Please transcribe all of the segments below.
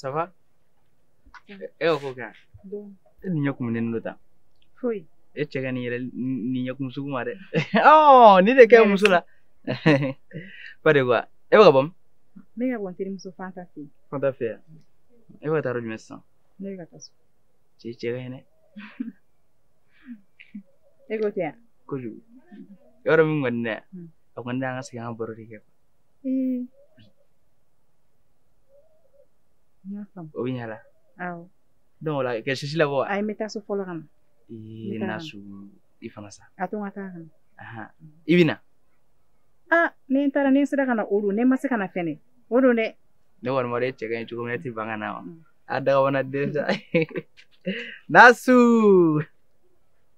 ça va e y'o ko kɛ e ni ɲɛ kun ne n'o ta foyi e cɛ ka ɲi yɛrɛ nin ɲɛkun sugu ma dɛ ɔ ni de kɛ muso la pas de quoi e bɛ ka bɔ min n bɛ ka bɔ n terimuso fanta fɛ yen fanta fɛ yan e bɛ ka taa yɔrɔ jumɛn sisan ne bɛ ka taa so e cɛ ka ɲi dɛ e ko tɛ yan kojugu yɔrɔ min kɔni dɛ a kɔni an ka sigi an ka baro de kɛ Mm. N y'a faamu. O bɛ ɲɛ la. Awɔ. Donc o la kɛ sisi labɔ wa? Ayi n bɛ taa so fɔlɔ ka na. Ee Nasu i fana sa. A to n ka taa ka na. Ahan i bɛ na? Aa ni n taara ni n sera ka na o don ni n ma se ka na fɛnɛ o don dɛ. Ne kɔni b'a dɔn e cɛ ka ɲi cogo min na e tɛ ban ka na wa? A dakabana den sa. Nasu!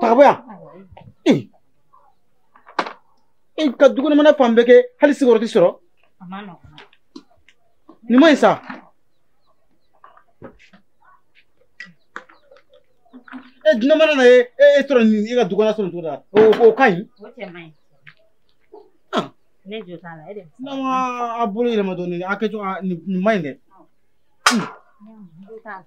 ta ka bɔ yan e ka du kɔnɔ mana fan bɛɛ kɛ hali sigiyɔrɔ tɛ sɔrɔ nin ma ɲi sa e dunan mana na e e sɔrɔ nin e ka du kɔnɔ sɔrɔ nin cogo la o o ka ɲi. o cɛ man ɲi. ne jo t'a la e de. n'a ma a bolo yɛlɛma dɔɔnin a kɛcogo nin man ɲi dɛ. jo t'a la.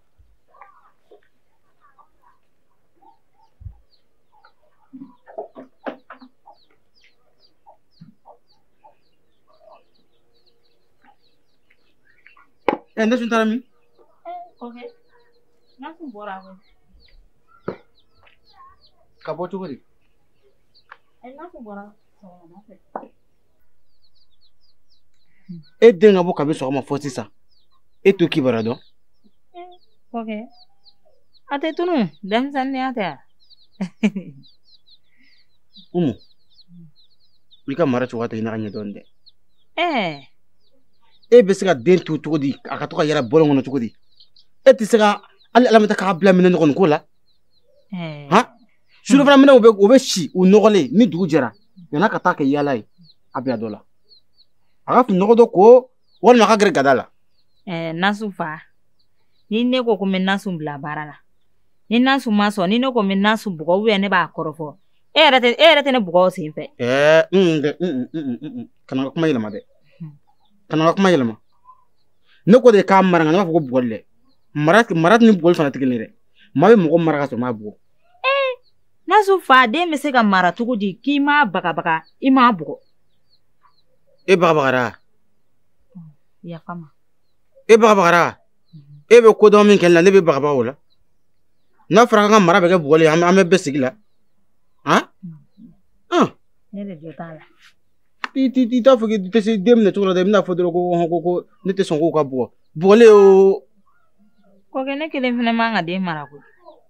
ɛ nasu taara min. ok nasu bɔra. ko ka bɔ cogo di. ɛ nasu bɔra. e den ka bɔ kabi sɔgɔma fɔ sisan e t'o kibara dɔn ok a tɛ tunu denmisɛnninya tɛ a umu i ka mara cogoya tɛ i n'a kɛɲɛ dɔn dɛ e bɛ se ka den to cogo di a ka to ka yaala bɔlɔn kɔnɔ cogo di e tɛ se ka hali a lamara k'a bila minɛn nɔgɔ ko la han surafana minɛnw bɛ si u nɔgɔlen ni dugu jɛra yan'a ka taa kɛ yaala ye a bila dɔ la a ka fini nɔgɔ dɔ ko walima a ka gɛrɛ gada la ɛɛ nasu fa ni ne ko ko n bɛ nasu bila baara la ni nasu ma sɔn ni ne ko n bɛ nasu bugɔ ou bien ne b'a kɔrɔfɔ e yɛrɛ tɛ e yɛrɛ tɛ ne bugɔ o sen fɛ ɛɛ n tɛ kana ka kuma yɛlɛma dɛ kana ka kuma yɛlɛma ne ko de k'a mara nka ne m'a fɔ ko bugɔli dɛ mara mara ni bugɔli fana tɛ kelen ye dɛ maa bɛ mɔgɔ mara ka sɔrɔ m'a bugɔ ee nasu fa den bɛ se ka mara cogo di k'i m'a bagabaga i m'a bugɔ e bagabagara yafa ma e bagabagara e bɛ ko dɔ min kɛ la ne bɛ bagabaga o la n'a fɔra an ka mara bɛ kɛ bugɔli an bɛɛ bɛ sigi la han ne de jo t'a la i t'i t'i t'a fɔ k'i tɛ se den minɛ cogo la dɛ i bɛn'a fɔ dɔrɔn ko hɔn ko ko ne tɛ sɔn ko k'a bugɔ bugɔli o kɔkɛ ne kelen fana man ka den mara koyi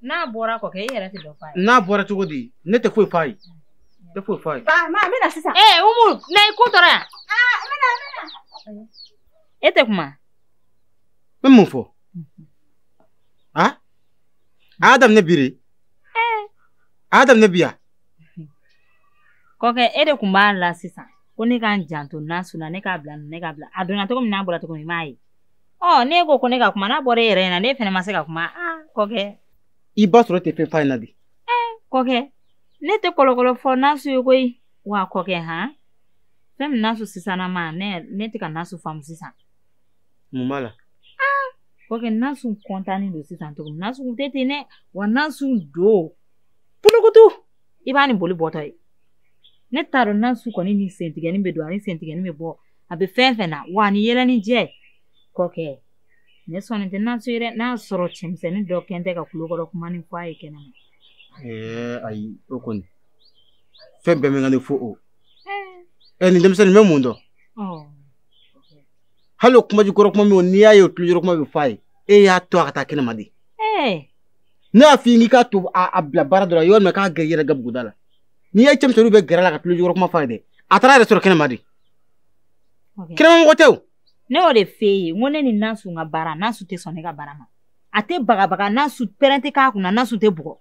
n'a bɔra kɔkɛ e yɛrɛ tɛ dɔ f'a ye n'a bɔra cogo di ne tɛ foyi f'a ye tɛ foyi f'a ye. maa maa n bɛna sisan. ee umu na i ko tɔɔrɔ yan. aa n bɛna n bɛna. e tɛ kuma. n bɛ mun fɔ. a a y'a daminɛ bi de. a y'a daminɛ bi yan. kɔkɛ e de kun b'a la sisan ko ne ka n janto nasu na ne k'a bila ne k'a bila a donna cogo min n'a bɔra cogo min i m'a ye. ɔ ne ko ko ne ka kuma n'a bɔra e yɛrɛ ɲɛ na ne fana ma se ka kuma aa kɔkɛ i b'a sɔrɔ e tɛ fɛn f'a ɲɛ na de kɔkɛ ne tɛ kɔlɔkɔlɔ fɔ nasu ye koyi wa kɔkɛ han fɛn min nasu sisanna ma ne ne tɛ ka nasu faamu sisan mun b'a la kɔkɛ nasu kɔntannen don sisan cogo min nasu kun tɛ ten dɛ wa nasu don pulukutu i b'a ni boli bɔtɔ ye ne t'a dɔn nasu kɔni ni sentigɛni bɛ don ani sentigɛni bɛ bɔ a bɛ fɛn fɛn na wa ni yɛlɛ ni jɛ kɔkɛ ne sɔnni tɛ nasu rɔ n'a sɔrɔ cɛmisɛnnin dɔ kɛn tɛ ka tulokɔrɔ kuma nin fɔ a ye kɛnɛ ma ɛɛ ayi o kɔni fɛn bɛɛ bɛ ka ne fɔ o ɛ nin denmisɛnnin bɛ mun dɔn hali o kuma jukɔrɔ kuma min n'i y'a ye o tulojɔrɔ kuma bɛ fɔ a ye e y'a to a ka taa kɛnɛ ma de ne y'a f'i ye k'i k'a to a bila baara dɔ la yɔrɔ min k'a gɛrɛ i yɛrɛ gabuguda la n'i ye cɛmisɛnninw bɛ gɛrɛ a la ka tulojɔrɔ kuma fɔ a ye dɛ a taara yɛrɛ sɔrɔ kɛnɛ ma de kɛnɛmamɔgɔ tɛ o ne y'o de f'e ye n ko ne ni nasu ka baara nasu tɛ sɔn ne ka baara ma a tɛ bagabaga nasu pɛrɛn tɛ k'a kunna nasu tɛ bugɔ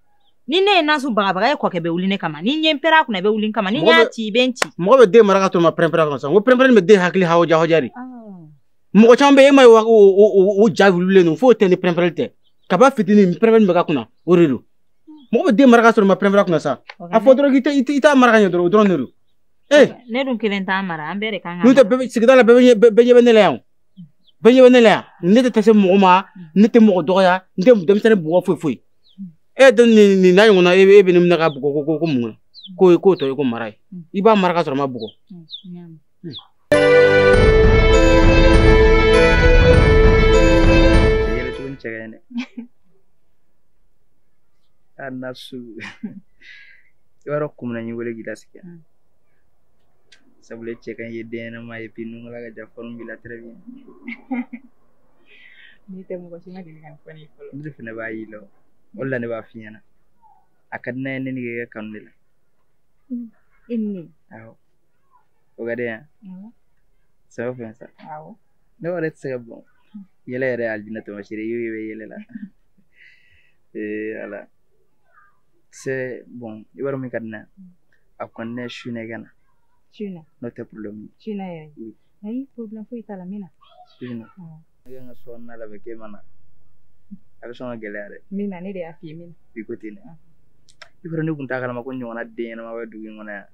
ni ne ye nasu bagabaga e kɔkɛ bɛ wuli ne kama ni n ye n pɛrɛn a kunna i bɛ wuli n kama ni n y'a ci i bɛ n ci mɔgɔ bɛ den mara ka to ma pɛrɛn-pɛrɛn kunna sa n ko pɛrɛn-pɛrɛn bɛ den hakili hawuja hawuja de mɔgɔ caman bɛ e ma ye o ja wililen don f'o tɛ ni pɛrɛn-pɛrɛn tɛ kab'a fitinin pɛrɛn-pɛrɛn bɛ k'a kunna o de don mɔgɔ bɛ den mara ka sɔrɔ ma pɛrɛn-pɛrɛn kunna sa a fɔ dɔrɔn k'i t'a mara ka ɲɛ dɔrɔn o dɔrɔn de don ee ne dun kelen t'a mara an bɛɛ de kan ka n'o tɛ bɛɛ bɛ sigida la bɛɛ bɛ ɲɛ- bɛɛ bɛɛ ɲɛ bɛ ne la yan o. bɛɛ ɲɛ bɛ ne la yan ne tɛ taa se mɔgɔ ma ne tɛ mɔgɔ dɔgɔya n tɛ denmisɛnnin bugɔ foyi foyi e dun nin nin n'a ɲɔgɔnna e bɛ e bɛ ne minɛ ka bugɔ ko ko ko mun na k'o ye k'o tɔ ye ko mara ye i b'a mara ka sɔrɔ ma bugɔ yɛrɛ tuguni cɛ ka ɲi dɛ a nasu i b'a dɔn kun min na n y'i wele k'i lasigi yan sabula cɛ ka ɲi i ye den ɲɛnama ye puis i nungala ka jan forme b'i la très bien n'i tɛ mɔgɔ si ma deli ka nin fɔ ne ye fɔlɔ ne de fana b'a y'i la o de la ne b'a f'i ɲɛna a ka di ne ye ne n'e ka kɛ kanu de la i ni ne awɔ o ka di yan sɛbɛ fɛn sa awɔ ne yɛrɛ tɛ se ka bon yɛlɛ yɛrɛ alijinɛ taamasere ye i bɛ yɛlɛ la ee ala c'est bon i b'a dɔn min ka di ne a kɔni ne su ne ka na su na n'o tɛ problème ye su na yɛrɛ ayi problème foyi t'a la min na su na ne ka n ka so kɔnɔna labɛn k'e ma na a bɛ sɔn ka gɛlɛya dɛ mun na ne de y'a f'i ye mun na i ko ten dɛ i b'a dɔn ne tun t'a kalama ko ɲɔgɔnna den ɲɛnama bɛ dugu in kɔnɔ yan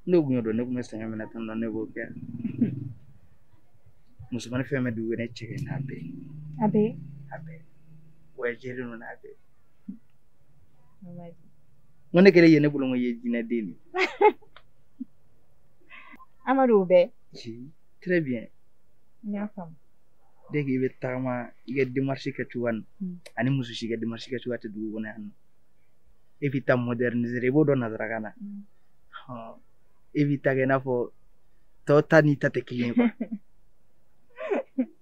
ne tun y'o dɔn ne tun bɛ sɛgɛn minɛ tan na ne b'o kɛ musomanin fɛn bɛ dugu ne cɛ ka ɲi n'a bɛɛ a bɛɛ a bɛɛ wa jɛlen don n'a bɛɛ n ko ne kɛlen ye ne bolo n ko i ye jinɛ den de ye amadu o bɛɛ très bien n y'a faamu dès que i bɛ tagama i ka démarche kɛ cogoya nin hmm. ani muso si ka démarche kɛ cogoya tɛ dugu kɔnɔ yan nɔ e b'i ta moderniser i b'o dɔn nazarakan na hmm. e b'i ta kɛ i n'a fɔ tɔw ta n'i ta tɛ kelen ye quoi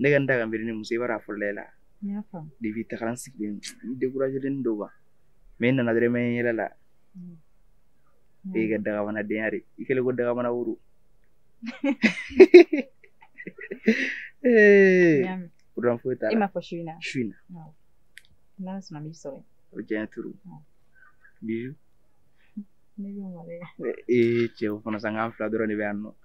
ne ka n da ka miiri ni muso i b'a dɔn a fɔlɔ la depuis tagara n sigilen n dekurajelen don quoi mais i nana dɔrɔn i m'a ye n yɛlɛla e ka dagabanadenya de i kɛlen ko dagabana woro problème foyi t'a la i m'a fɔ su in na su in na n'ala sɔnna n b'i sɔrɔ o diya trop bijou ne bɛ mɔgɔ ee cɛw fana sanko an fila dɔrɔn de bɛ yan nɔ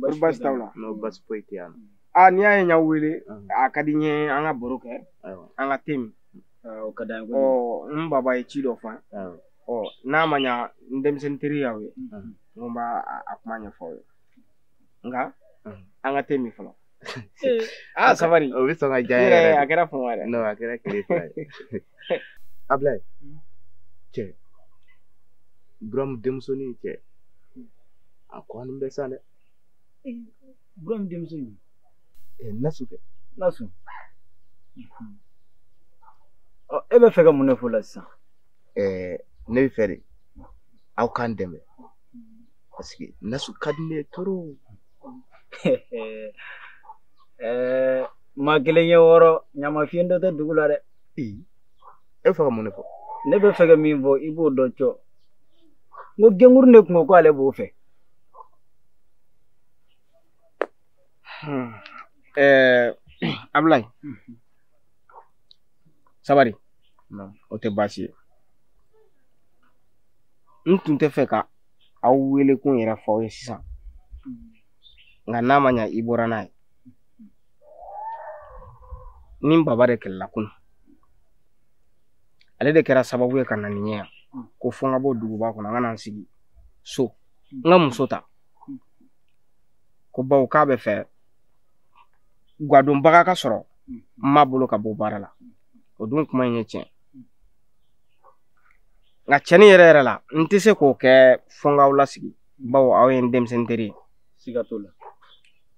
Kori basi t'aw la non basi foyi tɛ yan aa n'i y'a ye n y'aw wele Ahun. a ka di n ye an ka baro kɛ ayiwa an ka te min Ah, o ka d'an ye ɔ kojugu. n baba ye ci dɔ fɔ an ye ayiwa ɔ n'a ma ɲa n denmisɛnnin teri y'aw ye Ahun. n ko n b'a a- a kuma ɲɛfɔ aw ye nka Ahun. an ka te min fɔlɔ aa sabari o bɛ sɔn ka diya n n yɛrɛ yɛrɛ a kɛra fama yɛrɛ de non a kɛra tile fila ye Ablaye cɛ buramu denmusonin cɛ a kɔni bɛ sa dɛ buramu denmusonin nasu kɛ nasu e bɛ fɛ ka mun de fɔ la sisan ne bɛ fɛ de aw k'an dɛmɛ parce que nasu ka di ne ye trop maa kelen ye wɔɔrɔ ɲama fiɲɛ dɔ tɛ dugu la dɛ e bɛ fɛ ka mun de fɔ ne bɛ fɛ ka min fɔ i b'o dɔn cɔ n ko genguru de kun ko k'ale b'o fɛ ɛɛ abulayi sabari o tɛ baasi ye n tun tɛ fɛ ka aw wele kun yɛrɛ fɔ aw ye sisan nka n'a ma ɲa i bɔra n'a ye ni baba de kɛlɛla kunun ale de kɛra sababu ye ka na ni n ye yan ko fo n ka bɔ duguba kɔnɔ n ka na n sigi so n ka muso ta ko bawo k'a bɛ fɛ gadonbaga ka sɔrɔ n ma bolo ka bɔ baara la o dun kuma in ye tiɲɛ nka tiɲɛnin yɛrɛ yɛrɛ la n tɛ se k'o kɛ fo n k'aw lasigi bawo aw ye n denmisɛnnin teri ye siga t'o la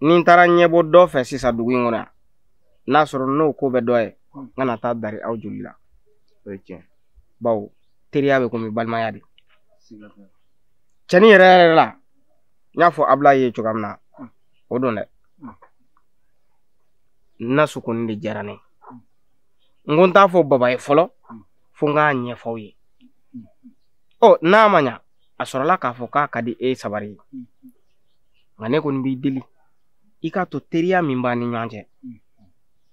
ni n taara ɲɛbɔ dɔ fɛ sisan dugu in kɔnɔ n'a sɔrɔ n'o ko bɛ dɔ ye n kana taa dari aw joli la o ye tiɲɛ bawo teriya bɛ komi balimaya de tiɲɛnin yɛrɛ yɛrɛ la n y'a fɔ abulayi ye cogoya min na o don dɛ nasu kɔni de diyara n ye n ko n t'a fɔ baba ye fɔlɔ fo n k'a ɲɛfɔ aw ye ɔ n'a ma ɲa a sɔrɔla k'a fɔ k'a ka di e sabari ye nka ne kɔni b'i deli i k'a to teriya min b'an ni ɲɔgɔn cɛ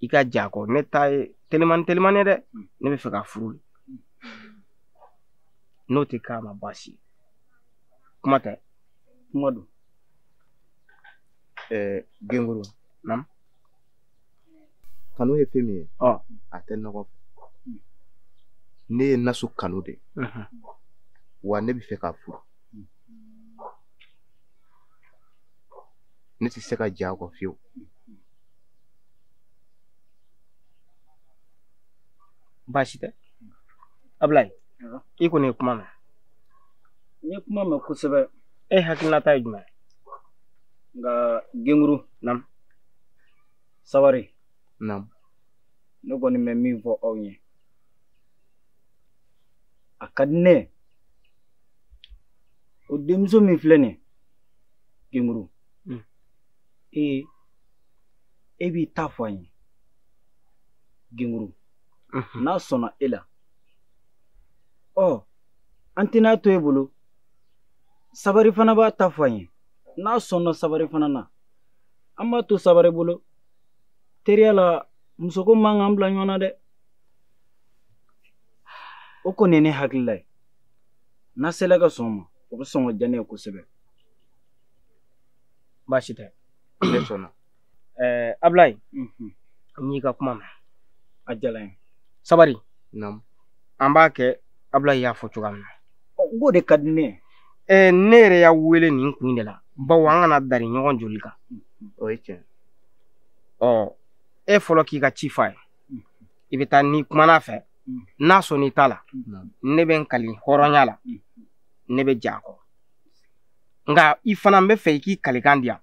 i ka j'a kɔ ne ta ye telimani telimani dɛ ne bɛ fɛ k'a furu de n'o tɛ k'a ma baasi ye kuma tɛ kuma don ɛɛ genguru naamu kanu ye fɛn min ye a tɛ nɔgɔ ne ye nasu kanu de wa ne bɛ fɛ k'a furu ne tɛ se ka j'a kɔ fiyewu baasi tɛ abulayi i kɔni ye kuma mɛn n ye kuma mɛn kosɛbɛ e hakilinata ye jumɛn nka genguru naamu sabari naamu ne kɔni bɛ min fɔ aw ye a ka di ne ye o denmuso min filɛ nin ye genguru Mm. ee e b'i ta fɔ an ye genguru Mhm. n'a sɔnna e la ɔ an tɛn'a to e bolo sabari fana b'a ta fɔ an ye n'a sɔnna sabari fana na an b'a to sabari bolo teriya la musoko man kan bila ɲɔgɔn na dɛ o kɔni ye ne hakilila ye n'a sela ka sɔn ma o bɛ sɔn ka diya ne ye kosɛbɛ baasi tɛ ne sɔnna ɛɛ abilayi n y'i ka kuma mɛn a diyara n ye sabari an b'a kɛ abilayi y'a fɔ cogoya min na n k'o de ka di ne ye ɛɛ ne yɛrɛ y'a wele nin kun de la bawo an kana dari ɲɔgɔn joli kan o ye tiɲɛ ɔ e fɔlɔ k'i ka ci f'a ye i bɛ taa n'i kumana a fɛ n'a sɔnn'i ta la ne bɛ n kali hɔrɔnya la ne bɛ jɛn a kɔ nka i fana n b'a fɛ i k'i kalikan di yan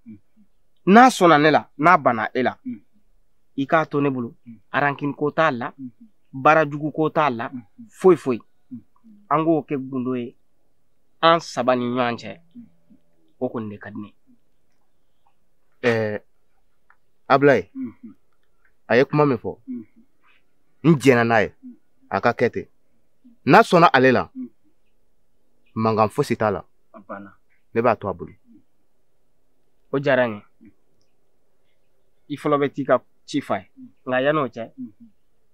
n'a sɔnna ne la n'a banna e la i k'a to ne bolo arankini ko t'a la baara jugu ko t'a la foyi foyi an k'o kɛ gundo ye an saba ni ɲɔgɔn cɛ o kɔni de ka di n ye ɛɛ abulayi a ye kuma min fɔ n jɛnna n'a ye a ka kɛ ten n'a sɔnna ale la mankan fosi t'a la ne b'a to a bolo o diyara n ye i fɔlɔ bɛ t'i ka ci f'a ye nka yan'o cɛ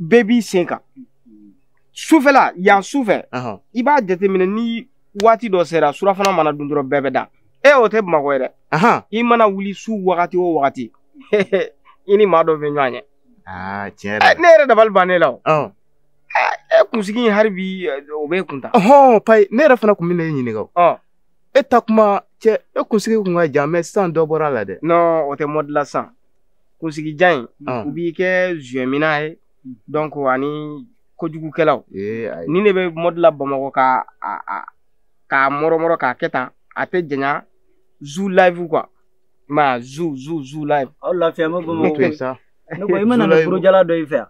bɛɛ b'i sen kan sufɛla yan sufɛ i b'a jateminɛ ni waati dɔ sera surafana mana dun dɔrɔn bɛɛ bɛ da e o tɛ bamakɔ ye dɛ i mana wuli su wagati o wagati i ni maa dɔ bɛ ɲɔgɔn ye ah, ne yɛrɛ dabali ban ne la o e kunsigi in hali bi eh, o bɛ kun ta ɔhɔn payi ne yɛrɛ fana kun bɛ na e ɲininka o e taa kuma cɛ e kunsigi kun ka jan mais sisan dɔ bɔra a la dɛ non o tɛ mode la sisan kunsigi jan in ah. u b'i kɛ zuyɛmina ye hmm. donc ani kojugukɛlaw nin de bɛ mode la bamakɔ k'a mɔrɔmɔrɔ k'a kɛ tan a tɛ janya zu live quoi ma zu zu zu live aw lafiya ma bamakɔ ne ko i mana na burujala dɔ in fɛ yan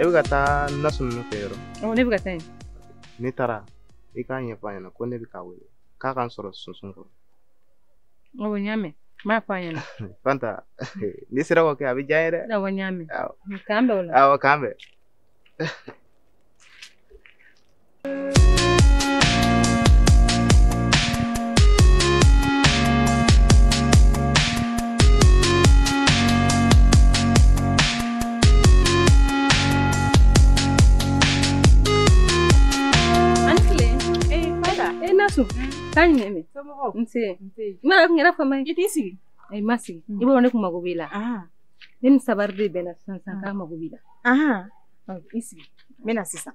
e bɛ ka taa naso ninnu fɛ yɔrɔ ne bɛ ka taa yen n'i taara i k'a ɲɛfɔ a ɲɛna ko ne bɛ k'a wele k'a ka n sɔrɔ sunsun kɔrɔ awɔ n y'a mɛn n b'a fɔ a ɲɛna fanta n'i sera k'o kɛ a bɛ diya n ye dɛ awɔ n y'a mɛn k'an bɛn o la awɔ k'an bɛn Taa ɲɛ n ma kun yɛrɛ fama i t'i sigi ayi ma sigi mm. i b'a dɔn ne kun mago b'i la ne ni sabari de bɛnna sisan sisan k'a mago b'i la i sigi n bɛ na sisan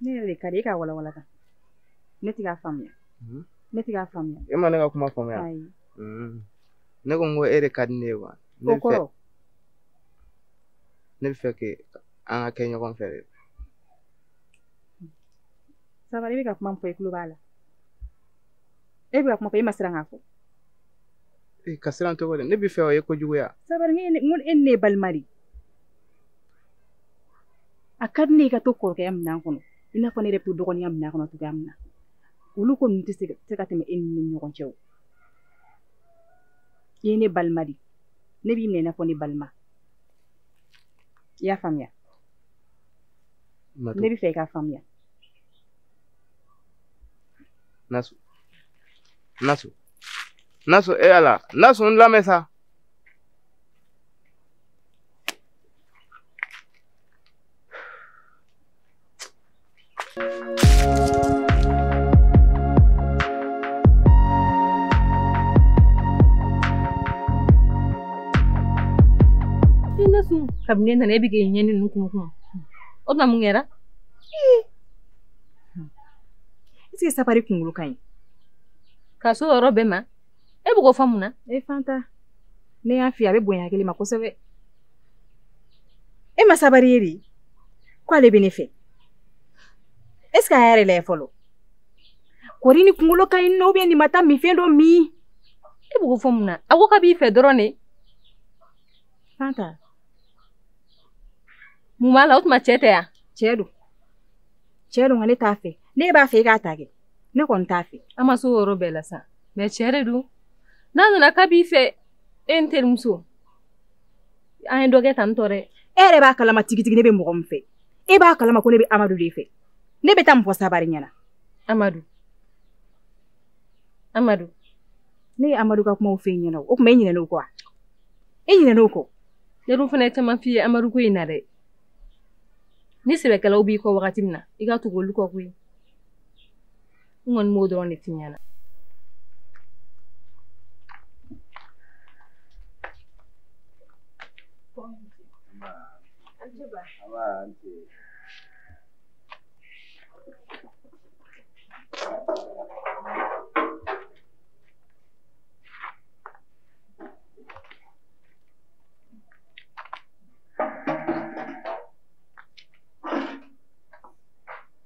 ne yɛrɛ de ka di e ka walawala kan ne tɛ k'a faamuya hmm? ne tɛ k'a faamuya e ma ne ka kuma faamuya ayi hmm. ne ko n ko e de ka di ne ye wa o kɔrɔ ne b'i fɛ kɛ an ka kɛ ɲɔgɔn fɛ de sabari i bɛ ka kuma min fɔ i tulo b'a la e bɛ ka kuma fɔ e ma siran k'a fɔ e ka siran cogo di ne b'i fɛ o ye kojuguya sabari n ko e ni ne ye balima de ye a ka di ne ye i ka to kɔrɔkɛya minɛn kɔnɔ i n'a fɔ ne yɛrɛ bɛ to dɔgɔninya minɛn kɔnɔ cogoya min na olu ko ninnu tɛ se ka tɛmɛ e ni ne ni ɲɔgɔn cɛ o i ye ne balima de ne b'i minɛ i n'a fɔ ne balima i y'a faamuya ne b'a fɛ i k'a faamuya nasu nasu nasu e ala nasu n lamɛn sa kabini ne nana e bɛ k'i ɲɛ ni ninnu kun kun o tuma mun kɛra est ce que sabari kunkolo ka ɲi ka s'o yɔrɔ bɛɛ ma e bɛ k'o fɔ mun na e fanta ne y'a f'i ye a bɛ bonya hakili ma kosɛbɛ e ma sabari ye de ko ale bɛ ne fɛ est ce que a y'a yɛrɛ lajɛ fɔlɔ kɔri nin kunkolo ka ɲi ou bien nin ma taa minfɛn dɔ min e bɛ k'o fɔ mun na a ko k'a b'i fɛ dɔrɔn de fanta mun b'a la o tuma cɛ tɛ yan cɛ don cɛ don nka ne t'a fɛ ne b'a fɛ i k'a ta kɛ ne kɔni t'a fɛ an ma s'o yɔrɔ bɛɛ la sa mais cɛ de don n'a nana k'a b'i fɛ e n terimuso an ye dɔ kɛ tan n tɔ dɛ e yɛrɛ b'a kalama tigitigi ne bɛ mɔgɔ min fɛ e b'a kalama ko ne bɛ amadu de fɛ ne bɛ taa mun fɔ sabari ɲɛna amadu amadu ne ye amadu ka kumaw f'e ɲɛna o tuma e ɲinɛna o kɔ wa e ɲinɛna o kɔ ne dun fana ye caman f'i ye amadu ko in na dɛ ni sɛbɛkɛlaw b'i kɔ wagati min na i ka tugu olu kɔ koyi n kɔni b'o dɔrɔn de f'i ɲɛna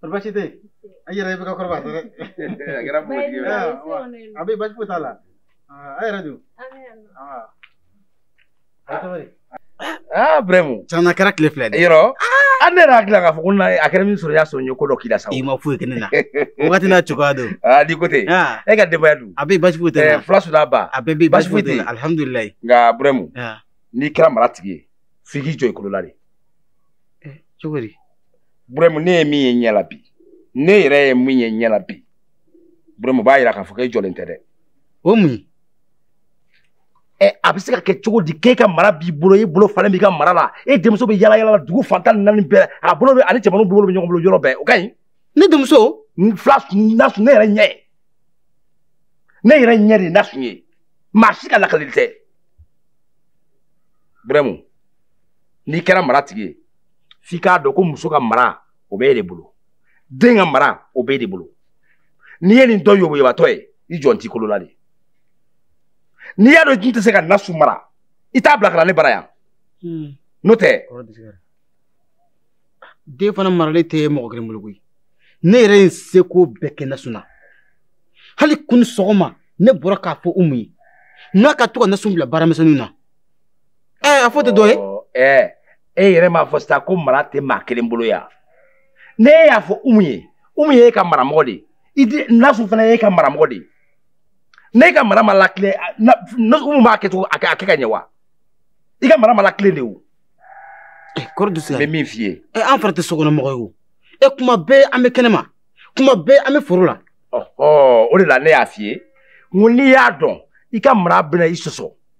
Kɔrɔ basi tɛ a yɛrɛ i bɛ ka kɔrɔba dɛ a kɛra a bɛ basi foyi t'a la a yɛrɛ dun aa brɛmu caman na kɛra tile fila de yɔrɔ an ne yɛrɛ hakili la k'a fɔ ko a kɛra min sɔrɔ y'a sɔrɔ n ye ko dɔ k'i la sa i ma foyi kɛ ne na wagati n'a cogoya don aa di ko ten e ka denbaya dun a bɛ basi foyi tɛ fila nasun n'a ba a bɛɛ bɛ basi foyi tɛ alihamudulilayi nka brɛmu n'i kɛra maratigi ye f'i k'i jɔ i kolo la de cogo di burɛmu ne ye min ye ɲɛ la bi ne yɛrɛ ye min ye ɲɛ la bi burɛmu b'a yira k'a fɔ k'e jɔlen tɛ dɛ o mun ye ɛ a bɛ se ka kɛ cogo di k'e ka mara b'i bolo e bolo falen b'i ka mara la e denmuso bɛ yala yala dugu fan tan ni naani bɛɛ a bolo bɛ ani cɛmanninw bolo bɛ ɲɔgɔn bolo yɔrɔ bɛɛ o ka ɲi ne denmuso fila nasun ne yɛrɛ ɲɛ ye ne yɛrɛ ɲɛ de nasun ye maa si ka lakalili tɛ burɛmu n'i kɛra maratigi ye f'i k'a dɔn ko muso ka mara o b'e de bolo den ka mara o b'e de bolo n'i ye nin dɔ yoboyobatɔ ye i jɔn t'i kolo la de n'i y'a dɔn i tun tɛ se ka nasu mara i t'a bila ka na ne bara yan hmm. n'o tɛ den fana maralen tɛ mɔgɔ kelen bolo koyi ne yɛrɛ ye n seko bɛɛ kɛ nasu na hali kunu sɔgɔma ne bɔra k'a fɔ umu ye n'a ka to ka nasu bila baaramisɛnninw na ɛɛ a fɔ tɛ dɔ ye. ɛɛ e yɛrɛ m'a fɔ sisan ko mara tɛ maa kelen bolo yan ne y'a fɔ umu ye umu ye e ka maramɔgɔ de ye nasu fana ye e ka maramɔgɔ de ye ne ka mara ma latilen umu b'a kɛ cogo a kɛ ka ɲɛ wa i ka mara ma latilen de o. Eh, kɔrɔ dusu n bɛ min f'i ye eh, an fana tɛ sokɔnɔmɔgɔ ye o e eh, kuma bɛɛ an bɛ kɛnɛma kuma bɛɛ an bɛ foro la o de la ne y'a f'i ye n ko n'i y'a dɔn i ka mara bɛna i sɔsɔ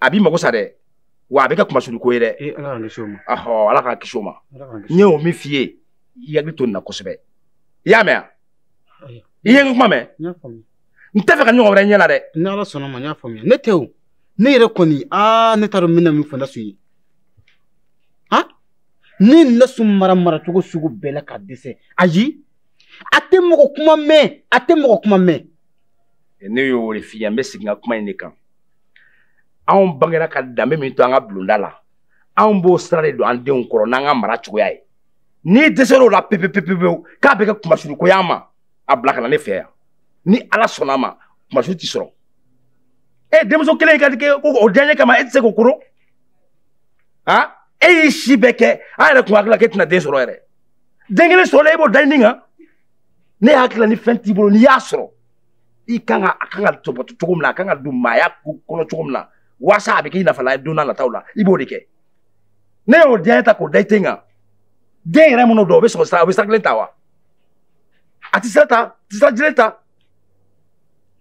a b'i mago sa dɛ wa a bɛ kɛ kunmasuuli ko ye dɛ eh, ala k'an kisi o ma ahɔ ala k'an kisi o ma n ye o min f'i ye i hakili to nin na kosɛbɛ i y'a mɛn wa i ye n kuma mɛn n t'a fɛ ka nin ɲɔgɔn wɛrɛ ye ɲɛ la dɛ ni ala sɔnna ma n y'a faamuya ne tɛ o ne yɛrɛ kɔni aa ne t'a dɔn n bɛna min fɔ nasu ye han ne nasu mara maracogo sugu bɛɛ la ka dɛsɛ ayi a tɛ mɔgɔ kuma mɛn a tɛ mɔgɔ kuma mɛn ne y'o de f'i ye n bɛ segin n ka kuma in de kan anw bangera ka danbe min to an ka bulonda la anw b'o sira de don an denw kɔrɔ n'an ka mara cogoya ye n'i dɛsɛr'o la pepepepepewu k'a bɛ kɛ kunmasuuru ko y'an ma a bila ka na ne fɛ yan ni ala sɔnna a ma kunmasuuru t'i sɔrɔ e denmuso kelen ka kɛ ko o diyaɲɛ kama e tɛ se k'o koro han e y'i si bɛɛ kɛ an yɛrɛ tun hakili la k'e tɛna den sɔrɔ yɛrɛ den kelen sɔrɔla e b'o da i ni kan ne hakili la ni fɛn t'i bolo n'i y'a sɔrɔ i kan ka a kan ka tɔbɔtɔ cogo min na a kan ka don maaya kɔnɔ cogo min na waasa a bɛ k'i nafalan ye don nataw la i b'o de kɛ n'e y'o diyaɲɛ ta k'o da i ten kan den yɛrɛ minnu don o bɛ sɔrɔ sira o bɛ sira kelen ta wa a tɛ sira ta a tɛ sira jelen ta.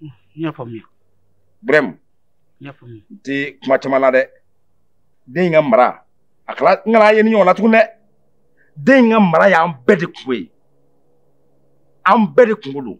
n y'a faamuya. brɛmu. n y'a faamuya. n tɛ kuma caman na dɛ den in ka mara a kala n kana ye nin ɲɔgɔn na tuguni dɛ den in ka mara y'an bɛɛ de kunko ye an bɛɛ de kunko don.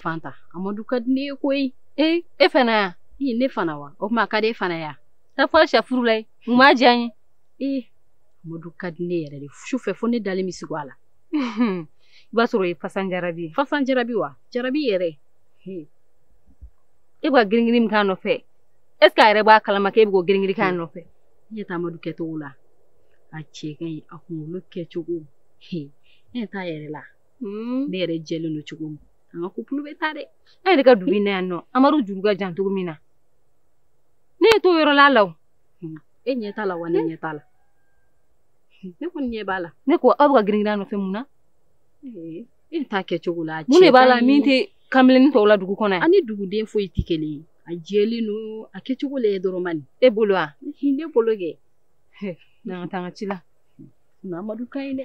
Fanta amadu ka di ne ye koyi ee e fana ye ne fana wa o tuma a ka di e fana ye taa fɔ safurulayi mun b'a diya n ye ee amadu ka di ne yɛrɛ de su fɛ fo ne dalen bɛ sigo a la i b'a sɔrɔ o ye fasan jarabi ye fasan jarabi wa jarabi yɛrɛ e bɛ ka giringirin min k'a nɔfɛ est ce que a yɛrɛ b'a kalama k'e bɛ k'o giringirin k'a nɔfɛ i ɲɛ tɛ amadu kɛcogo la a cɛ ka ɲi a kunkolo kɛcogo ne ɲɛ t'a yɛrɛ la ne yɛrɛ jɛlen don cogo min an ka kupulu bɛ taa dɛ an yɛrɛ ka dugu in na yan nɔ amadu juru ka jan cogo min na e ɲɛ t'o yɔrɔ la la o e ɲɛ t'a la wa ne ɲɛ t'a la ne kɔni ɲɛ b'a la ne ko aw bɛ ka giringirin a nɔfɛ mun na e ɲɛ t'a kɛcogo la mun de b'a la min tɛ kamalennin tɔw la dugu kɔnɔ yan a ni duguden foyi tɛ kelen ye a jɛlen don a kɛcogo lajɛ dɔrɔn man e bolo wa ne bolo kɛ n'an ka taa an ka ci la amadu ka ɲi dɛ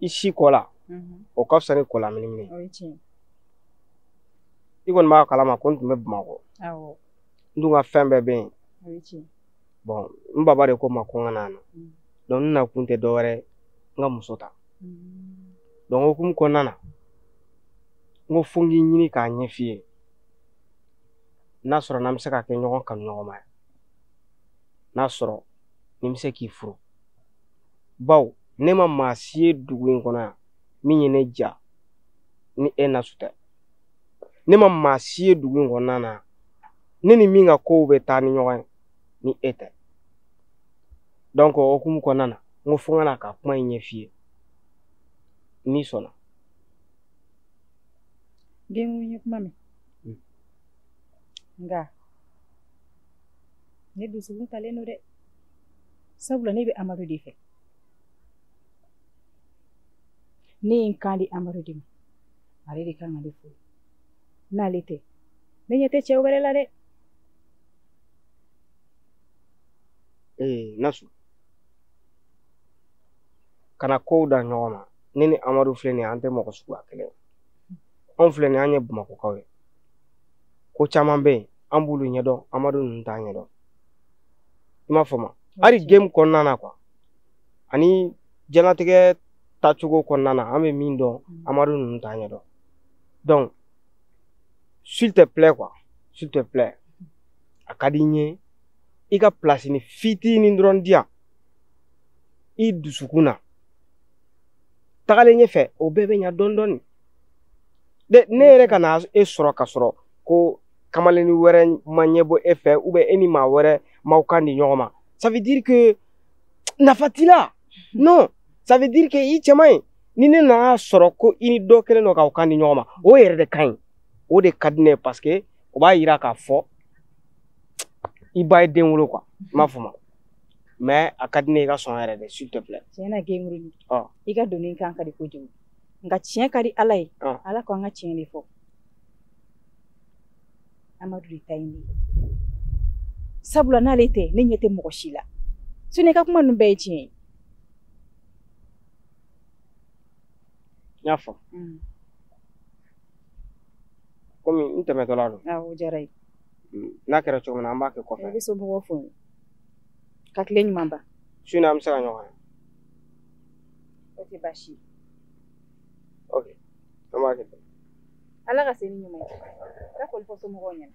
i sin ko la o ka fisa ni ko laminimini i kɔni b'a kalama ko n tun bɛ bamakɔ n dun ka fɛn bɛɛ bɛ yen bɔn n baba de ko n ma ko n ka na na donc n nakun tɛ dɔwɛrɛ n ka muso ta donc o hukumu kɔnɔna na n ko fo n k'i ɲini k'a ɲɛ f'i ye n'a sɔrɔ n'an bɛ se ka kɛ ɲɔgɔn kanu ɲɔgɔn ma n'a sɔrɔ ni n bɛ se k'i furu baw ne ma maa si ye dugu in kɔnɔ yan min ye ne ja ni e nasu tɛ ne ma maa si ye dugu in kɔnɔna na ne ni min ka kow bɛ taa ni ɲɔgɔn ye ni e tɛ donc o hukumu kɔnɔna na n ko fo n ka na ka kuma in ɲɛf'i ye n'i sɔnna den ko n ye kuma mɛn hmm. nka ne dusukun talen don dɛ sabula ne bɛ amadu de fɛ ne ye n kan di amadu de ma ale de kan ka ne furu n'ale tɛ ne ɲɛ tɛ cɛ wɛrɛ la dɛ ee nasu kana kow da ɲɔgɔn ma ne ni amadu filɛ nin ye an tɛ mɔgɔ suguya kelen anw filɛ nin ye an ye bamakɔkaw ye ko caman bɛ yen an b'olu ɲɛdɔn amadu ninnu t'a ɲɛdɔn i m'a faamu hali game kɔnɔna na quoi ani diɲɛnatigɛ tacogo kɔnɔna na an bɛ min dɔn mm. amadu ninnu t'a ɲɛdɔn donc s'il te plaît quoi s'il te plaît a ka di n ye i ka pilasini fitinin dɔrɔn di yan i dusukun na tagalen ɲɛfɛ o bɛɛ bɛ ɲa dɔɔni dɔɔni ne yɛrɛ ka na e sɔrɔ ka sɔrɔ ko kamalenni wɛrɛ ma ɲɛbɔ e fɛ ou bien e ni maa wɛrɛ m'aw kan di ɲɔgɔn ma ça veut dire que nafa t'i la non ça veut dire que i cɛ man ɲi ni ne nana sɔrɔ ko i ni dɔ kelen don k'aw kan di ɲɔgɔn ma o yɛrɛ de ka ɲi o de ka di ne ye parce que o b'a yira k'a fɔ i ba ye den wolo quoi i m'a faamu mais a ka di ne ye i ka sɔn yɛrɛ de s'il te plaît tiɲɛ na gengurunin i ka donni kan ka di kojugu nka tiɲɛ ka di ala ye ala ko an ka tiɲɛ de fɔ amadu de ta ye ne ye sabula n'ale tɛ ne ɲɛ tɛ mɔgɔ si la sinon i ka kuma ninnu bɛɛ ye tiɲɛ ye n y'a faamu mm. komi n tɛmɛtɔla don awɔ o diyara ye mm, n'a kɛra cogo min na an b'a kɛ kɔfɛ i bɛ somɔgɔw fo ka tile ɲuman ban su in na an bɛ se ka ɲɔgɔn ye o tɛ baasi ye an b'a kɛ ten ala ka se ni ɲuman ye ka foli fɔ somɔgɔw ɲɛna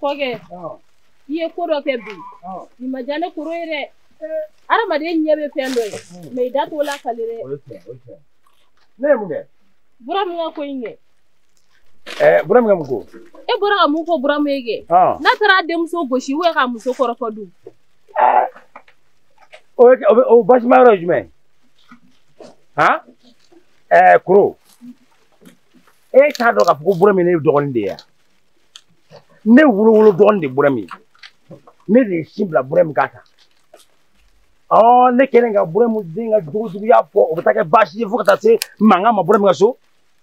kɔkɛ i ye ko dɔ kɛ bi nin ma diya ne koro ye dɛ adamaden ɲɛ bɛ fɛn dɔ ye mɛ i da t'o lakali dɛ ne ye mun kɛ buramu ka ko in kɛ ɛɛ buramu ka mun ko e bɔra ka mun fɔ buramu ye kɛ ɔn n'a taara a denmuso gosi ubiyɛn k'a muso kɔrɔfɔ dun o bɛ kɛ- o bɛ o baasima yɔrɔ ye jumɛn ye han ɛɛ koro e t'a dɔn k'a fɔ ko buramu ye ne dɔgɔnin de ye wa ne wolowolo dɔgɔnin de ye buramu ye ne de ye sin bila buramu k'a ta ɔ ne kɛlen ka buramu den ka jogo juguya fɔ o bɛ taa kɛ baasi ye fo ka taa se mankan ma buramu ka so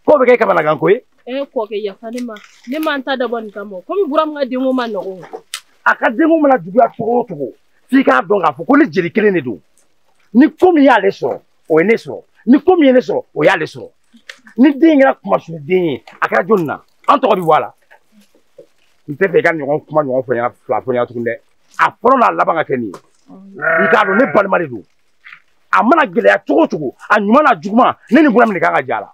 k'o bɛ kɛ kamanagan ko ye. e kɔkɛ yafa ne ma ne ma n ta dabɔ nin kama komi buramu ka denko man nɔgɔn. a ka denko mana juguya cogo o cogo f'i k'a dɔn k'a fɔ ko ne jeli kelen de don ni ko min y'ale sɔrɔ o ye ne sɔrɔ ni ko min ye ne sɔrɔ o y'ale sɔrɔ ni den kɛra kunmasuli den ye a kɛra jɔnni na an tɔgɔ bɛ bɔ a la n t'a fɛ i k'a ɲɔgɔn kuma ɲɔgɔn fɔ n ɲɛna fila fɔ n ɲɛna tuguni dɛ. a fɔlɔ n'a laban ka kɛ nin ye i k'a dɔn ne balima de don a mana gɛlɛya cogo o cogo a ɲuman n'a juguman ne ni buramu de kan ka jɛ a la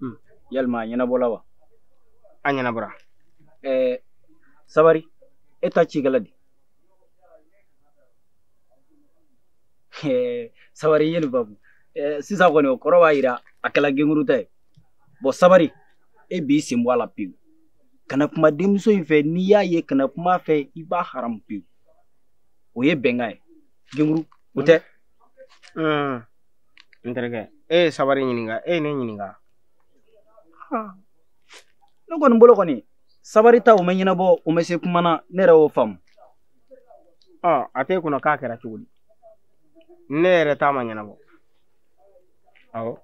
hmm. yalima a ɲɛnabɔla wa a ɲɛnabɔra eh, sabari e ta ci kɛla di eh, sabari yeli babu eh, sisan kɔni o kɔrɔ b'a yira a kɛla genkuru ta ye bɔn sabari e b'i sen bɔ a la pewu kana kuma denmuso in fɛ n'i y'a ye kana kuma a fɛ i b'a haramu pewu o ye bɛnkan ye genkuru o tɛ Hmm. N terikɛ, e ye sabari ɲininka, e ye ne ɲininka. Haa. Ne kɔni bolo kɔni, sabari ta o ma ɲɛnabɔ, o ma se kuma na, ne yɛrɛ y'o faamu. Ɔ, a t'e kunna k'a kɛra cogo di? Ne yɛrɛ ta ma ɲɛnabɔ. Awɔ.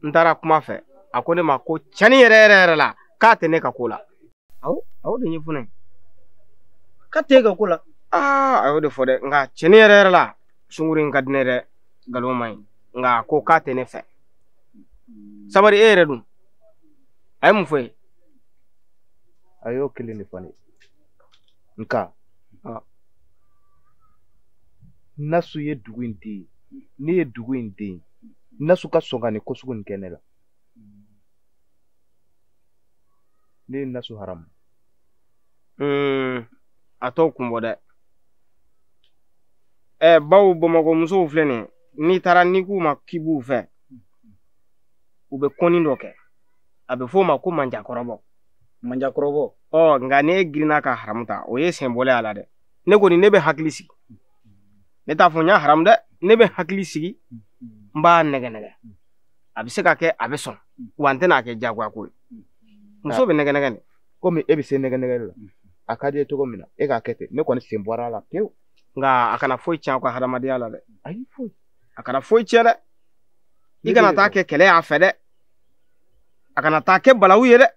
N taara kuma a fɛ, a ko ne ma ko cɛnni yɛrɛ yɛrɛ yɛrɛ la, k'a tɛ ne ka ko la. aw a y'o de ɲɛfɔ e ye k'a t'e ka ko la aa a y'o de fɔ dɛ nka cɛni yɛrɛ yɛrɛ la sungurun in ka di n ye dɛ nkalon man ɲi nk'a ko k'a tɛ ne fɛ sabari e yɛrɛ dun a ye mun f'e ye a y'o kelen de fɔ n ye nka nasu ye dugu in den ne ye dugu in den nasu ka sɔn ka nin ko sugu nin kɛ ne la ne ye nasu haramu a t'o kun bɔ dɛ ɛ baw bamakɔ musow filɛ nin ye n'i taara n'i k'u ma k'i b'u fɛ u bɛ konin dɔ kɛ a bɛ f'o ma ko manjakɔrɔbɔ manjakɔrɔbɔ ɔ nka ne girinna ka haramu ta o ye sen bɔlen a la dɛ ne kɔni ne bɛ hakili sigi ne t'a fɔ n y'a haramu dɛ ne bɛ hakili sigi n b'a nɛgɛ nɛgɛ a bɛ se ka kɛ a bɛ sɔn wa n tɛna a kɛ jagoya ko ye muso bɛ nɛgɛ nɛgɛ nin komi e bɛ se nɛgɛ nɛgɛ la a ka di ye cogo min na e k'a kɛ ten ne kɔni sen bɔra a la pewu nka a kana foyi tiɲɛ aw ka hadamadenya la dɛ ayi foyi a kana foyi tiɲɛ dɛ i kana taa kɛ kɛlɛ y'a fɛ dɛ a kana taa kɛ balawu ye dɛ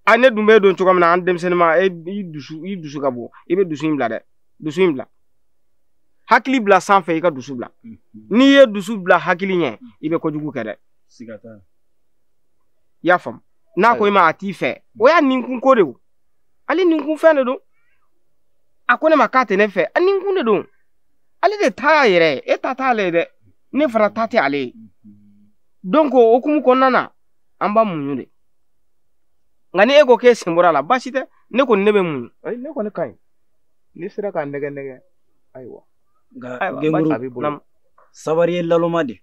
a ne dun b'e dɔn cogo min na an denmisɛnnin ma e i dusu i dusu ka bon i bɛ dusu in bila dɛ dusu in bila hakili bila sanfɛ i ka dusu bila n'i ye dusu bila hakili ɲɛ i bɛ kojugu kɛ dɛ siga t'a la i y'a faamu n'a ko i ma a t'i fɛ o y'a ninkun ko de o ale ninkun fɛn de don a ko ne ma k'a tɛ ne fɛ a ninkun de don ale de ta y'a yɛrɛ ye e ta t'ale ye dɛ ne fana ta tɛ ale ye donc o hukumu kɔnɔna na an b'a muɲu de nka ni e ko k'e sen bɔra a la baasi tɛ ne kɔni ne bɛ muɲu ayi ne kɔni ka ɲi n'i sera k'a nɛgɛ nɛgɛ ayiwa nka gɛnguru sabari ye laloma de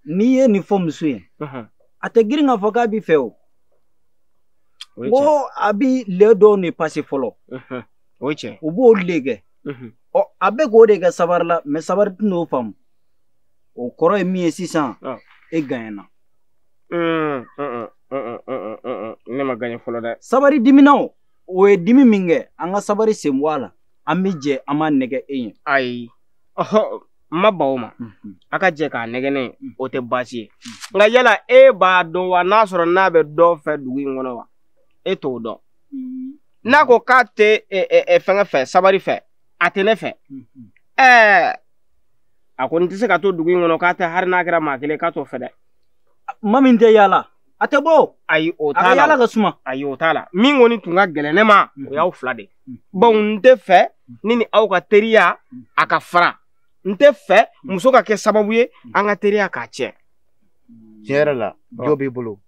n'i ye nin fɔ muso ye a tɛ girin k'a fɔ k'a b'i fɛ o ko a b'i le dɔɔnin pase fɔlɔ u b'o le kɛ ɔ a bɛ k'o de kɛ sabari la mɛ sabari tɛn'o faamu o kɔrɔ ye min ye sisan e ganyana ne ma ganye fɔlɔ dɛ sabari dimina o ye dimi min kɛ an ka sabari sen bɔ a la an bɛ jɛ an b'a nɛgɛ e ye ayi ɔhɔ n ma ban o ma mhm. a ka jɛ k'a nɛgɛ ne ye mhm. o tɛ baasi ye mhm. nka yala e b'a dɔn wa n'a sɔrɔ n'a bɛ dɔ fɛ dugu in kɔnɔ wa e t'o dɔn n'a ko k'a tɛ e, e, e, fɛngɛ fɛ sabari fɛ a tɛ ne fɛ ɛɛ a kɔni tɛ se ka to dugu in kɔnɔ k'a tɛ hali n'a kɛra maa kelen k'a t'o fɛ dɛ maa min tɛ yaala a tɛ bɔ ayi o t'a la a ka yaala ka suma ayi o t'a la min kɔni tun ka gɛlɛn ne ma o y'aw fila de ye bawo n tɛ fɛ ne ni aw ka teriya a ka fara n tɛ fɛ muso ka kɛ sababu ye an ka teriya ka tiɲɛ tiɲɛ yɛrɛ la jo b'i bolo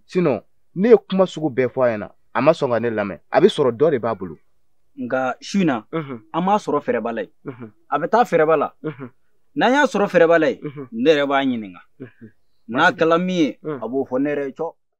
sinon ne ye kuma sugu bɛɛ fɔ a ɲɛna a ma sɔn ka ne lamɛn a bɛ sɔrɔ dɔ de b'a bolo nka su in na an b'a sɔrɔ fɛrɛba la yen a bɛ taa fɛrɛba la n'an y'a sɔrɔ fɛrɛba la yen ne yɛrɛ b'a ɲininka n'a kɛla min ye a b'o fɔ ne yɛrɛ ye cɔ